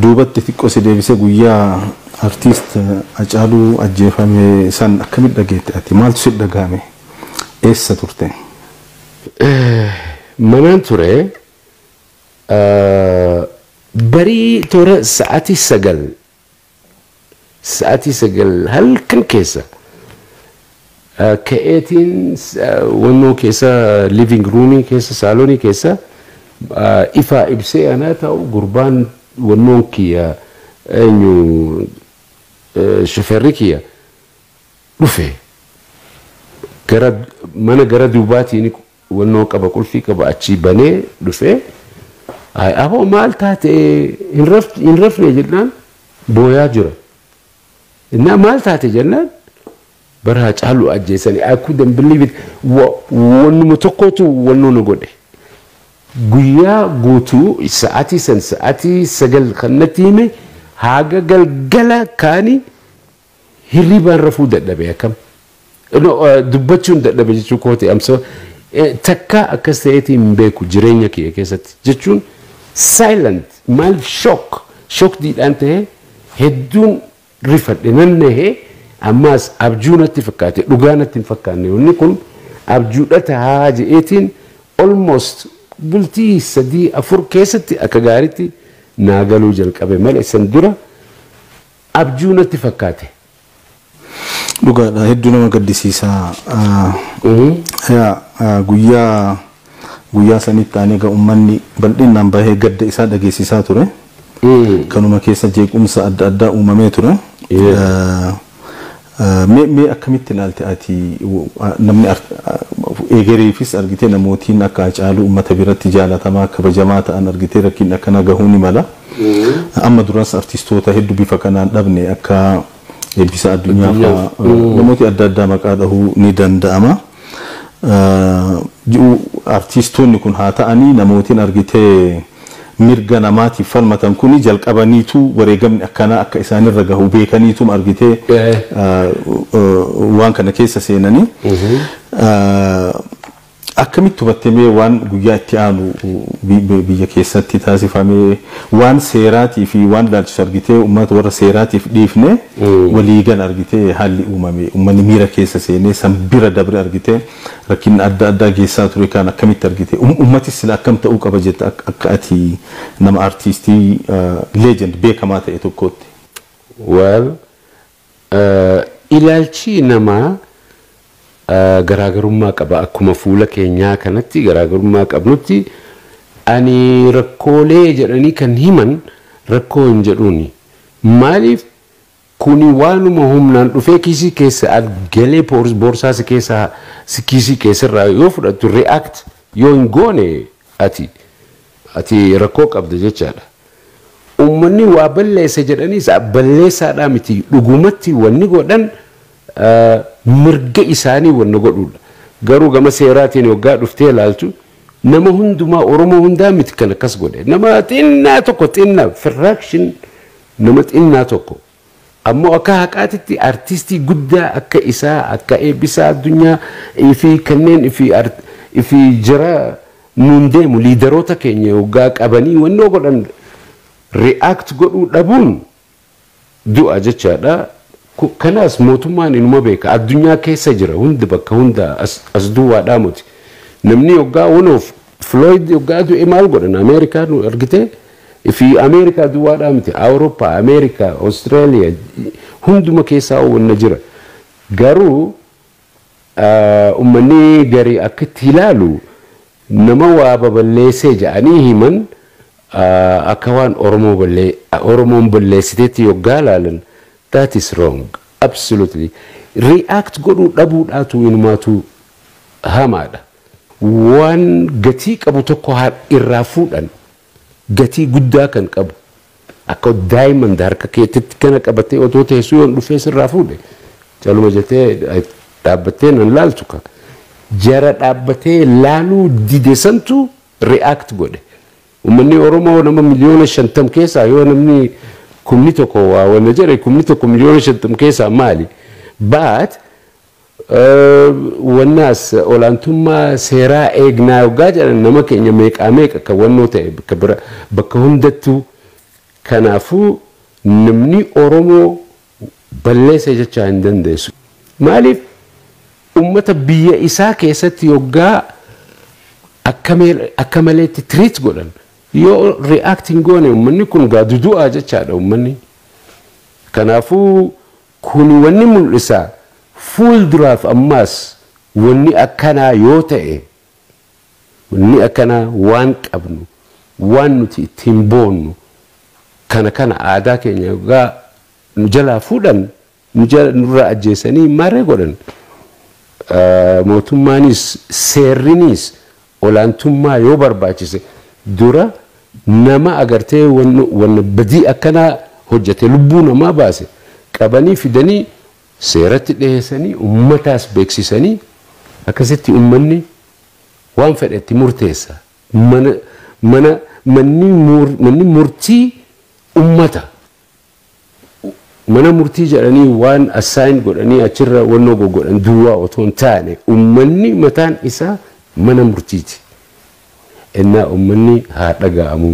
duubatti xiqqoo si deebisee guyyaa artiist Hacaaluu ajjeefame san akkamitti dhageette ati maaltu si dhagahame eessa turte? Manaan ture barii toora sa'aatii sagal Sa'atii sagal halkan keessa ka'eetiin wannoo keessa living roomii keessa saalonii keessa ifaa ibsee anaa taa'u gurbaan wannoon kiyya eenyu shofeerri kiyya dhufe gara mana gara duubaatiin Wannoo qaba qulfii qaba achii banee dhufee Ay aboo maal taate hin rafne hin rafne jennaan booyaa jira. Innaa maal taate jennaan bara Hacaaluu ajjeesanii I couldn't believe it Wa- wannuma tokkootu wannoo na godhe. Guyyaa guutuu sa'aatii san sa'aatii sagal kan natti hime haaga galgala kaani Hirribaan rafuu dadhabe akkam? No, eh, dubbachuun dadhabe jechuu kooti amsa takkaa akkas ta'eetii hin beeku jireenya kiyya keessatti jechuun silent maaliif shock shock diidhaan ta'ee hedduun rifadhe nan nahee ammaas abjuu natti fakkaate dhugaa natti hin fakkaanne wanni kun abjuudha tahaa je'eetiin almost bultii sadii afur keessatti akka gaaritti naa galuu jalqabe malee san dura abjuu natti fakkaate. Dhugaadha hedduu nama gaddisiisa guyyaa guyyaa sanitti aanee egaa ummanni bal'inaan bahee gadda isaa dhageessisaa ture kanuma keessa jeequmsa adda addaa uumamee ture. Mee mee akkamitti ilaalta ati namni eegereefis argitee namootiin akka Hacaaluu ummata biratti jaalatamaa kabajamaa ta'an argitee rakkinni akkana gahuu ni mala. Amma duras artistoota heddu bifa kanaan dhabne akka Eebbisaa Addunyaa faa namooti adda addaa maqaa dhahuu ni danda'ama. ji'u artiistoonni kun haa ta'anii namootiin argite mirga namaatiif falmatan kuni jalqabaniitu wareegamni akkanaa akka isaanirra gahu beekaniituma argite waan kana keessa seenanii. Akkamitti hubatte mee waan guyyaa itti aanu biyya keessatti taasifame? Waan seeraatii fi waan ilaalchisu argitee ummata warra seeraatiif dhiifnee walii gala argitee haalli uumame ummanni miira keessa seenee san bira dabre argitee rakkinna adda addaa geessaa ture kaan akkamitti argite? Ummatis sila akkam ta'uu qaba jetta akka ati nama artiistii legend beekamaa ta'e tokkootti? Well Ilaalchi namaa garaagarummaa qaba. Akkuma fuula keenyaa kanatti garaagarummaa qabnutti ani rakkoolee jedhanii kan himan rakkoo hin jedhuuni. Maaliif kuni waanuma humnaan dhufee kiisii keessa at galee boorsaa si keessaa kiisii keessarraa yoo fudhattu react yoo hin goone Ati Ati rakkoo qabda jechaadha. Ummanni waa balleesse jedhaniis balleessaadhaa miti. Dhugumatti wanni godhan mirga isaanii wanna godhuudha. Garuu gama seeraatiin hoggaa dhuftee ilaaltu nama hundumaa Oromoo hundaa miti kan akkas godhe. Nama xinnaa tokko xinna fraction nama xinnaa tokko. Ammoo akka haqaatitti artistii guddaa akka isaa akka Eebbisaa Addunyaa fi kanneen fi jara nuun deemu liidaroota keenya hoggaa qabanii wannoo godhan react godhuu dhabuun du'a jechaadha. Kanaas mootummaan inuma beeka. Addunyaa keessa jira hundi bakka hundaa as duwwaadhaa moti. Namni hoggaa wanoof. Floyd yoggaa du'e maal godhan Ameerikaa nu argite fi Ameerikaa duwwaadhaa miti Awurooppaa Ameerikaa Australia hunduma keessaa wanna jira garuu ummanni garii akka itti ilaalu nama waa baballeessee ja'anii himan akka waan Oromoo ballee Oromoon balleessiteetti yoggaa ilaalan that is wrong absolutely react godhuu dhabuudhaatu inumaatuu hamaadha. waan gatii qabu tokko haa irraa fuudhan gatii guddaa kan qabu akka diamond harka keetitti kana qabatee otoo teessuu yoon dhufee sirraa fuudhe caluma jetee dhaabbattee nan laaltu ka jara dhaabbatee laaluu dide santu react godhe ummanni oromoo nama miliyoona shantam keessaa yoo namni kumni tokko waa wanna jedhe kumni tokko miliyoona shantam keessaa maali baat Wanna as olaantummaa seeraa eegnaa yoggaa jedhan nama keenya meeqaa meeqa kan wannoo ta'e bakka bira bakka hundattuu kanaafuu namni Oromoo balleessa jechaa hin dandeessu. Maaliif ummata biyya isaa keessatti yoggaa akka mee- akka maleetti treat godhan yoo react hin goone ummanni kun gaa dudu'aa jechaadha ummanni. Kanaafuu Kuni wanni mul'isa fuulduraaf ammaas wanni akkanaa yoo ta'e, wanni akkanaa waan qabnu, waan nuti ittiin boonnu, kana kana aadaa keenya yoggaa nu jalaa fuudhan, nu jala, nurraa ajjeesanii maarree godhan, mootummaanis, seerriniis, Olaantummaa yoo barbaachise dura nama agartee wanna badii akkanaa hojjate lubbuu namaa baase qabanii fidanii seeratti dhiheessanii ummataas beeksisanii akkasitti ummanni waan fedhe itti murteessa. Mana manni murtii ummata. mana murtii jedhanii waan assign godhanii achirra wannoo goggodhan duwwaa otoo hin taane ummanni mataan isaa mana murtiiti. Ennaa ummanni haa dhaga'amu.